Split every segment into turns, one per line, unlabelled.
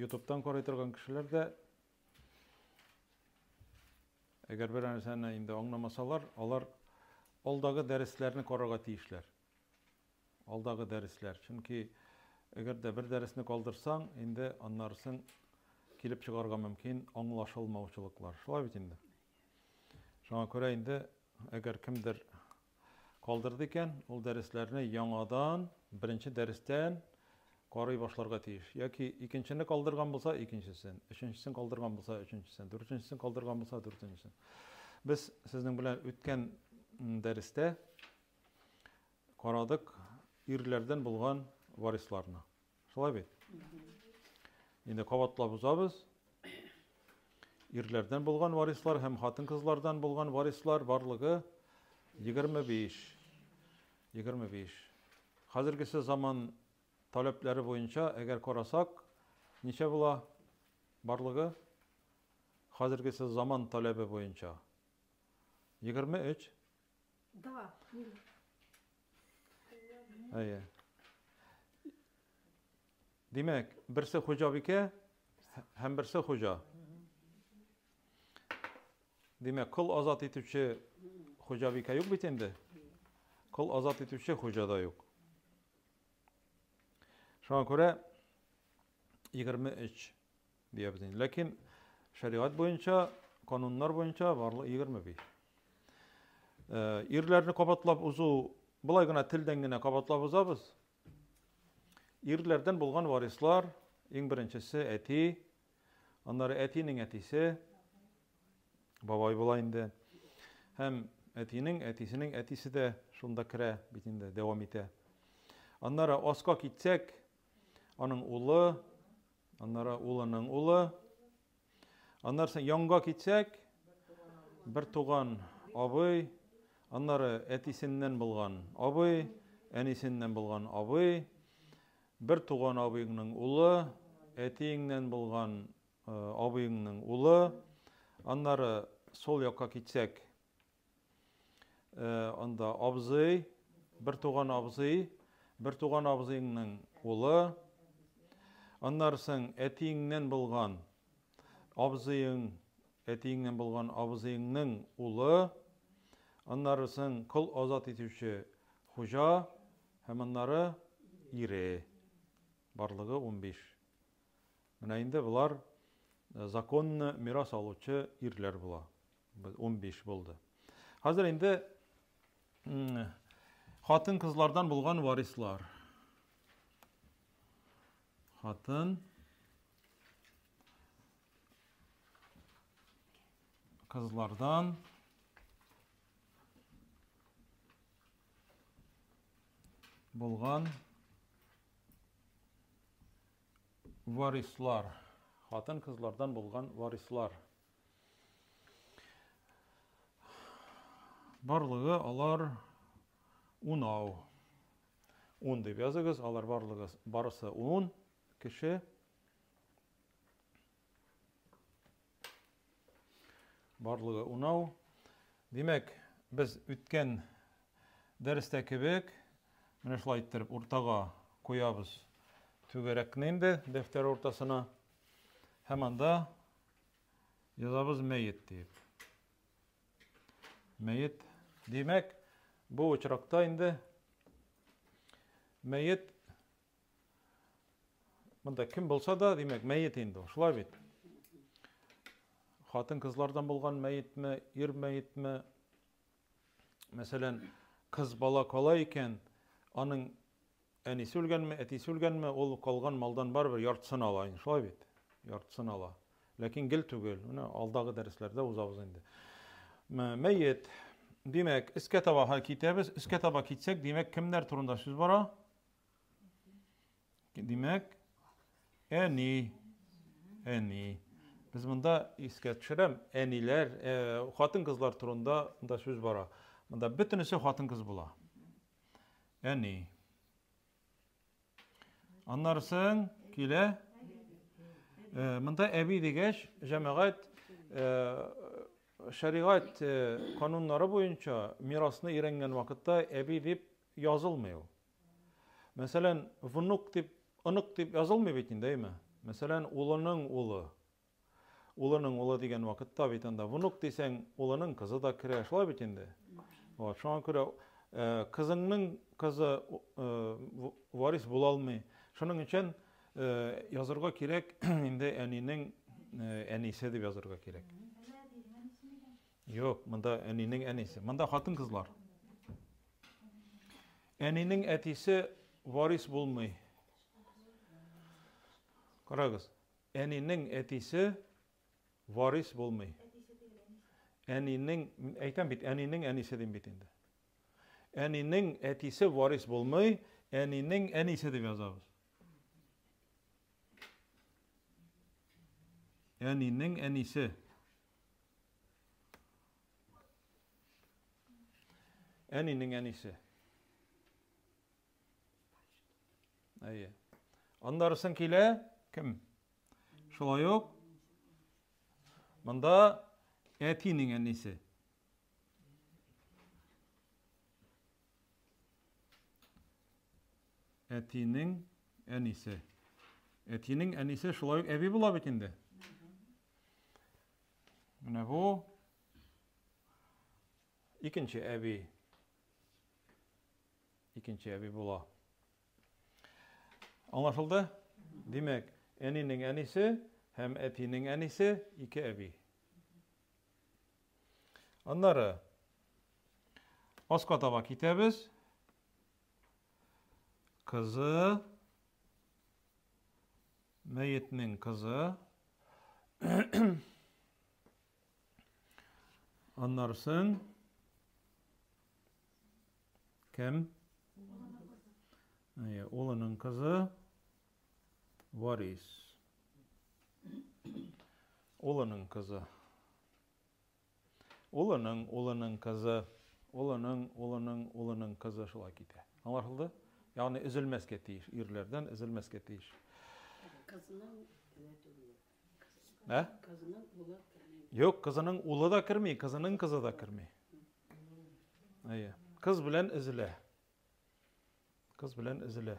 Ютубтан карый торган кешеләр дә, әгәр бер нәрсәне инде аңламасалар, алар алдагы дәресләрне карарга тиешләр. Алдагы дәресләр. Чөнки әгәр дә бер дәресне калдырсаң, инде аннарысын килеп чыгарга мөмкин аңлашылмаучылыклар. Шулай бит инде. Шуңа күрә инде әгәр кемдер калдырды икән, ул дәресләрне яңадан беренче дәрестән карый башларга тиеш. Яки икенчене калдырган булса, икенчесен, өченчесен калдырган булса, өченчесен, дүртенчесен калдырган булса, дүртенчесен. Без сезнең белән үткән дәрестә карадык ирләрдән булган варисларны. Шулай бит? Инде кабатлап узабыз. Ирләрдән булган варислар һәм хатын-кызлардан булган варислар барлыгы 25. 25. Хәзергесе заман таләпләре буенча, әгәр карасак, ничә була барлыгы? Хәзергесе заман таләбе буенча. 23.
Да,
Юля. Әйе. Димәк, берсе хуҗабикә һәм берсе хуҗа. Димәк, кол азат итүче хуҗабикә юк бит инде. Кол азат итүче хуҗа да юк. Шуңа күрә 23 Диябез. Ләкин шәригать буенча, кануннар буенча барлык 25. Ирләрне кабатлап узу, былай гына телдән генә кабатлап узабыз. Ирләрдән булган варислар, иң беренчесе әти, аннары әтинең әтисе, бабай була инде. Һәм әтинең, әтисенең әтисе дә шунда керә бит инде, дәвам итә. Аннары аска китсәк, Аның улы, аннары улының улы. Аннары янга китсәк, бер туган абый, аннары әтисеннән булган абый, әнисеннән булган абый, бер туган абыйның улы, әтиеңнән булган э, абыйыңның улы, аннары сол якка китсәк, Анда абзый, бер туган абзый, бер туган абзыйның улы, аннарсың әтиеңнән булган абзыйың, әтиеңнән булган абзыйыңның улы, аннарсың кол азат итүче хуҗа һәм аннары ире. Барлыгы 15. Менә инде болар законны мирас алучы ирләр була. Унбиш булды. Хәзер инде хатын-кызлардан булган варислар. Хатын кызлардан булган варислар. Хатын-кызлардан булган варислар. Барлыгы алар унау. Ун дип языгыз, алар барлыгы барысы ун кеше. Барлыгы унау. Димәк, без үткән дәрестә кебек, менә шулай иттереп уртага куябыз түгәрәкне инде дәфтәр уртасына. Һәм анда Язабыз мәет диеп. Мәет. Димәк, бу очракта инде мәет Монда кем булса да, димәк, мәет инде ул. Шулай бит. Хатын-кызлардан булган мәетме, ир мәетме? Мәсәлән, кыз бала кала икән, аның Әнисе үлгәнме, әтисе үлгәнме, ул калган малдан барыбер яртысын ала инде, шулай бит? Яртысын ала. Ләкин гел түгел. Менә алдагы дәресләрдә узабыз инде. Мәет. Димәк, өскә таба һәй китәбез. Өскә таба китсәк, димәк, кемнәр турында сүз бара? Димәк, әни. Әни. Без монда искә төшерәм, әниләр, хатын-кызлар турында да сүз бара. Монда бөтенесе хатын-кыз була. Әни. Аннарсын килә. Э, монда әби дигәч, җәмәгать э, шәригать э, кануннары буенча мирасны өйрәнгән вакытта әби дип язылмый ул. Мәсәлән, внук дип, онык дип язылмый бит инде, әйме? Мәсәлән, улының улы, Улының улы дигән вакытта бит анда внук дисәң, улының кызы да керә, шулай бит инде. Вот, шуңа күрә кызыңның кызы варис була алмый. Шуның өчен язырга кирәк, инде әнинең әнисе дип язырга кирәк. Юк, монда әнинең әнисе. Монда хатын-кызлар. Әнинең әтисе варис булмый. Карагыз, Әнинең әтисе варис булмый. Әтисе түгел, әнисе. Әнинең, мин әйтәм бит, әнинең әнисе дим бит инде. Әнинең әтисе варис булмый, әнинең әнисе дип язабыз. Әнинең әнисе. Әнинең әнисе. Әйе. Аннарысын килә, кем? Шулай ук, мында әтинең әнисе. Әтинең әнисе. Әтинең әнисе шулай ук әби була бит инде. Менә бу. Икенче әби. Икенче әби була. Аңлашылды? Димәк, әнинең әнисе һәм әтинең әнисе ике әби. Аннары аска таба китәбез. Кызы мәетнең кызы Аннарсын кем? Әйе, улының кызы Варис. Улының кызы. Улының, улының кызы, улының, улының, улының кызы шулай китә. Аңлашылды? Ягъни өзелмәскә тиеш, ирләрдән өзелмәскә тиеш.
Кызның
Ә?
Юк, кызының
улы да керми, кызының кызы да керми. Әйе. Кыз белән эзелә. Кыз белән эзелә.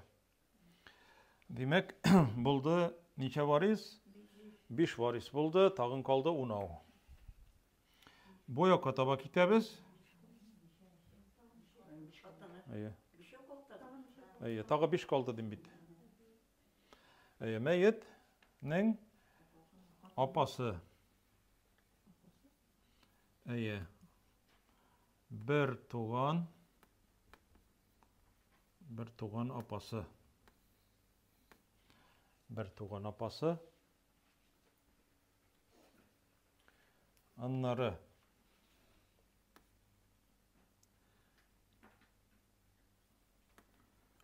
Димәк, булды ничә варис? Биш варис булды, тагын калды унау. Бу якка таба китәбез. Әйе. Әйе, тагы биш калды дим бит. Әйе, мәетнең апасы. Әйе. Бер туган бер туган апасы. Бер туган апасы. Аннары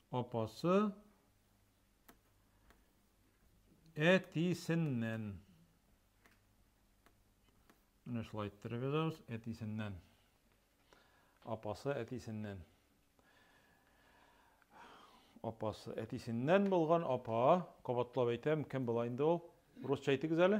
Апасы әтисеннән. Менә шулай иттереп язабыз, әтисеннән. Апасы әтисеннән. Апасы әтисеннән булган апа, кабатлап әйтәм, кем була инде ул? Русча әйтегез әле.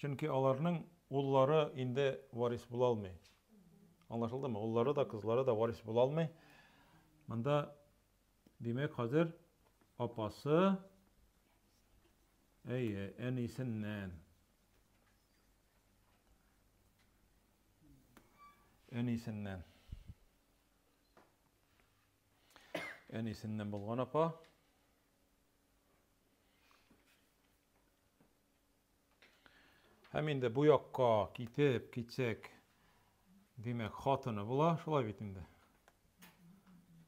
Чөнки аларның уллары инде варис була алмый. Аңлашылдымы? Уллары да, кызлары да варис була алмый. Монда, димәк, хәзер апасы, әйе, әнисеннән. Әнисеннән. Әнисеннән булган апа. Һәм инде бу якка китеп китсәк, димәк, хатыны була, шулай бит инде.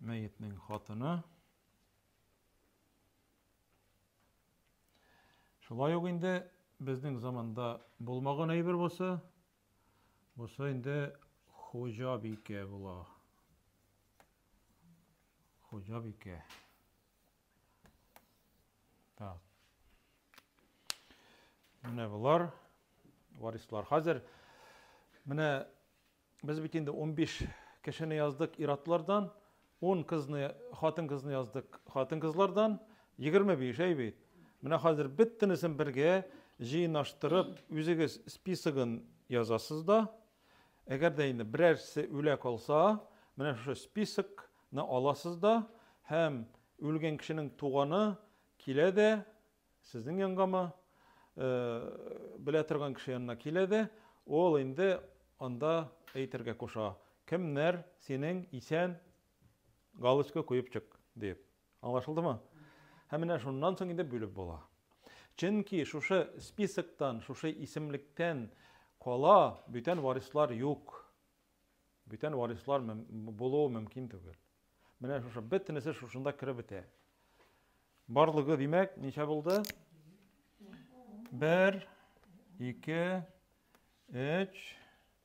Мәетнең хатыны. Шулай ук инде безнең заманда булмаган әйбер булса, булса инде хуҗабикә була. Хуҗабикә. Так. Менә болар варислар. Хәзер менә без бит инде 15 кешене яздык иратлардан, 10 кызны, хатын кызны яздык хатын кызлардан, 25 әй бит. Менә хәзер бөтенесен бергә җыенаштырып, үзегез списогын язасыз да, Әгәр дә инде берәрсе үлә калса, менә шушы списокны аласыз да һәм үлгән кешенең туганы килә дә сезнең янгамы, белә торган кеше янына килә дә, ул инде анда әйтергә куша, кемнәр синең исән, галочка куеп чык, диеп. Аңлашылдымы? Һәм менә шуннан соң инде бүлеп була. Чөнки шушы списоктан, шушы исемлектән кала бүтән варислар юк. Бүтән варислар булуы мөмкин түгел. Менә шушы бөтенесе шушында кереп бетә. Барлыгы димәк, ничә булды? 1 2 3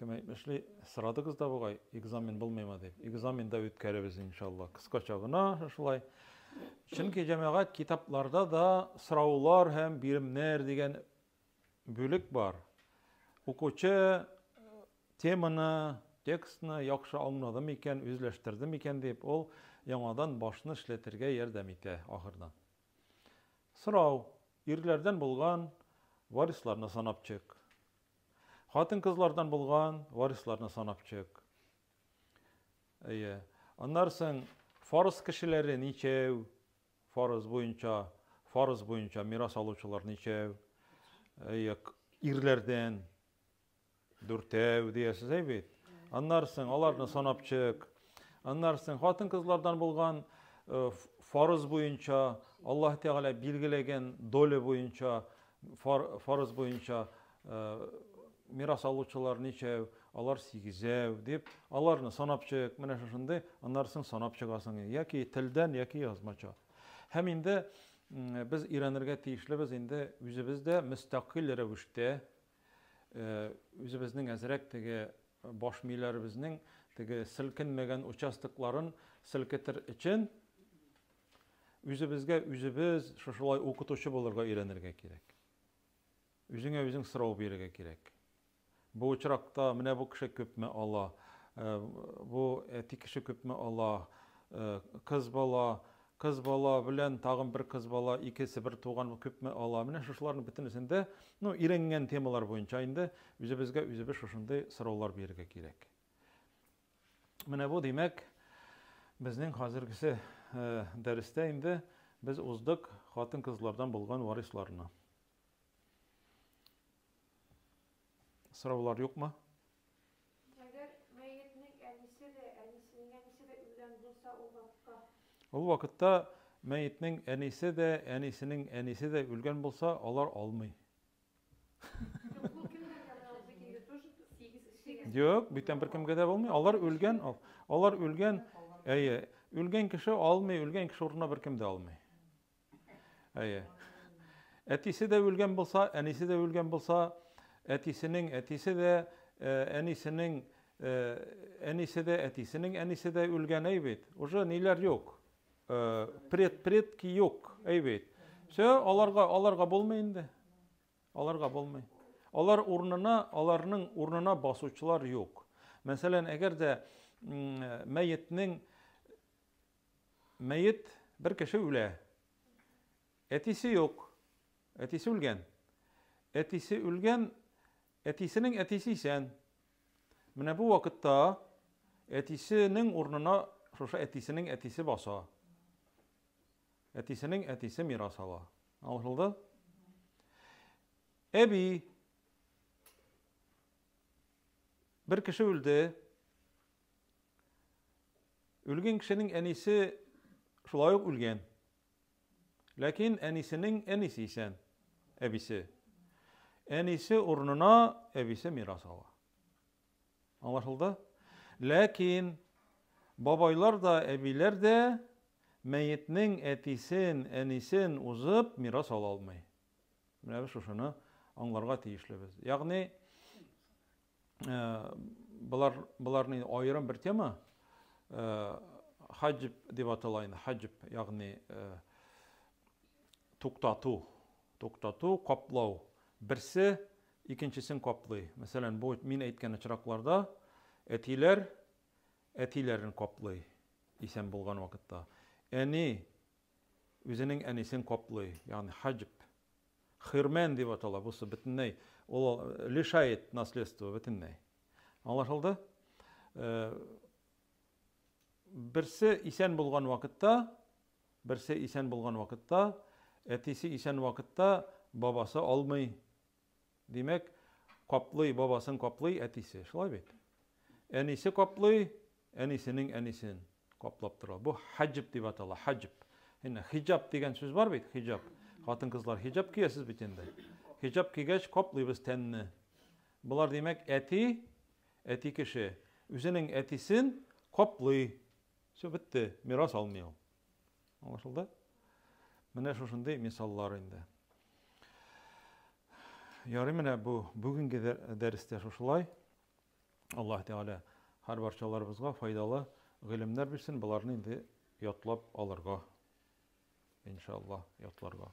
Кем әйтмешли, сорадыгыз да бугай, экзамен булмыймы дип. Экзамен да үткәребез, иншалла. Кыскача гына шулай. Чөнки җәмәгать китапларда да сораулар һәм биремнәр дигән бүлек бар. Укучы э, теманы, текстны яхшы аңлады микән, үзләштерде микән дип, ул яңадан башны эшләтергә ярдәм итә ахырдан. Сорау, ирләрдән булган варисларны санап чык. Хатын-кызлардан булган варисларны санап чык. Әйе. Аннары соң фарыз кешеләре ничәү? Фарыз буенча, фарыз буенча мирас алучылар ничәү? Әйе, ирләрдән дүртәү диясез әй бит. Аннары соң аларны санап чык. Аннары соң хатын-кызлардан булган э, фарыз буенча, Аллаһ Тәгалә билгеләгән доля буенча, фарыз буенча э, мирас алучылар ничәү, алар сигезәү дип, аларны санап чык, менә шушындый, аннары соң санап чыгасың, яки телдән, яки язмача. Һәм инде без өйрәнергә тиешлебез инде үзебез дә мөстәкыйль рәвештә Үзебезнең әзрәк теге баш мийләребезнең теге селкенмәгән участокларын селкетер өчен үзебезгә үзебез шушылай укытучы булырга өйрәнергә кирәк. Үзеңә үзең сорау бирергә кирәк. Бу очракта менә бу кеше күпме ала, бу әти кеше күпме ала, кыз бала Кыз бала белән тагын бер кыз бала, икесе бер туган күпме ала? Менә шушыларның бөтенесен дә, ну, өйрәнгән темалар буенча инде үзебезгә үзебез шушындый сораулар бирергә кирәк. Менә бу, димәк, безнең хәзергесе дәрестә инде без уздык хатын-кызлардан булган варисларны. Сораулар юкмы? Әгәр мәетнең
әнисе дә, әнисенең әнисе дә үлгән булса, ул вакытта? Ул
вакытта мәетнең әнисе дә, әнисенең әнисе дә үлгән булса, алар алмый. Юк, бүтән беркемгә дә булмый. Алар үлгән, алар үлгән, әйе, үлгән кеше алмый, үлгән кеше урынына беркем дә алмый. Әйе. Әтисе дә үлгән булса, әнисе дә үлгән булса, әтисенең әтисе дә, э, әнисенең э, әнисе дә, әтисенең әнисе дә үлгән, әй бит. Уже ниләр юк. Э, пред предки юк, әй бит. Все, аларга аларга булмый инде. Аларга булмый. Алар урынына, аларның урынына басучылар юк. Мәсәлән, әгәр дә мәетнең Мәет, бер кеше үлә. Әтисе юк. Әтисе үлгән. Әтисе үлгән, әтисенең әтисе исән. Менә бу вакытта әтисенең урынына шушы әтисенең әтисе баса. Әтисенең әтисе мирас ала. Аңлашылды? Әби бер кеше үлде. Үлгән кешенең әнисе шулай ук үлгән. Ләкин әнисенең әнисе исән, әбисе. Әнисе урынына әбисе мирас ала. Аңлашылды? Ләкин бабайлар да, әбиләр дә мәетнең әтисен, әнисен узып мирас ала алмый. Менә без шушыны аңларга тиешлебез. Ягъни Болар, боларны аерым бер тема. Хаҗип дип атала инде. Хаҗип, ягъни туктату, туктату, каплау. Берсе икенчесен каплый. Мәсәлән, бу мин әйткән очракларда әтиләр әтиләрен каплый, исән булган вакытта. Әни Үзенең әнисен каплый, ягъни хаҗб. Хирмән дип атала, бусы бөтенләй, ул лишает наследство бөтенләй. Аңлашылды? Берсе исән булган вакытта, берсе исән булган вакытта, әтисе исән вакытта бабасы алмый. Димәк, каплый, бабасын каплый әтисе, шулай бит? Әнисе каплый, Әнисенең әнисен каплап тора. Бу хаҗб дип атала, хаҗб. Инде хиҗаб дигән сүз бар бит, хиҗаб. Хатын-кызлар хиҗаб киясез бит инде. Хиҗаб кигәч, каплыйбыз тәнне. Болар димәк, әти, әти кеше үзенең әтисен каплый. Все, бетте, мирас алмый ул. Аңлашылды? Менә шушындый мисаллар инде. Ярый менә бу бүгенге дәрестә шушылай. Аллаһ Тәгалә һәр барчаларыбызга файдалы гыйлемнәр бирсен, боларны инде ятлап алырга, иншаллаһ, ятларга.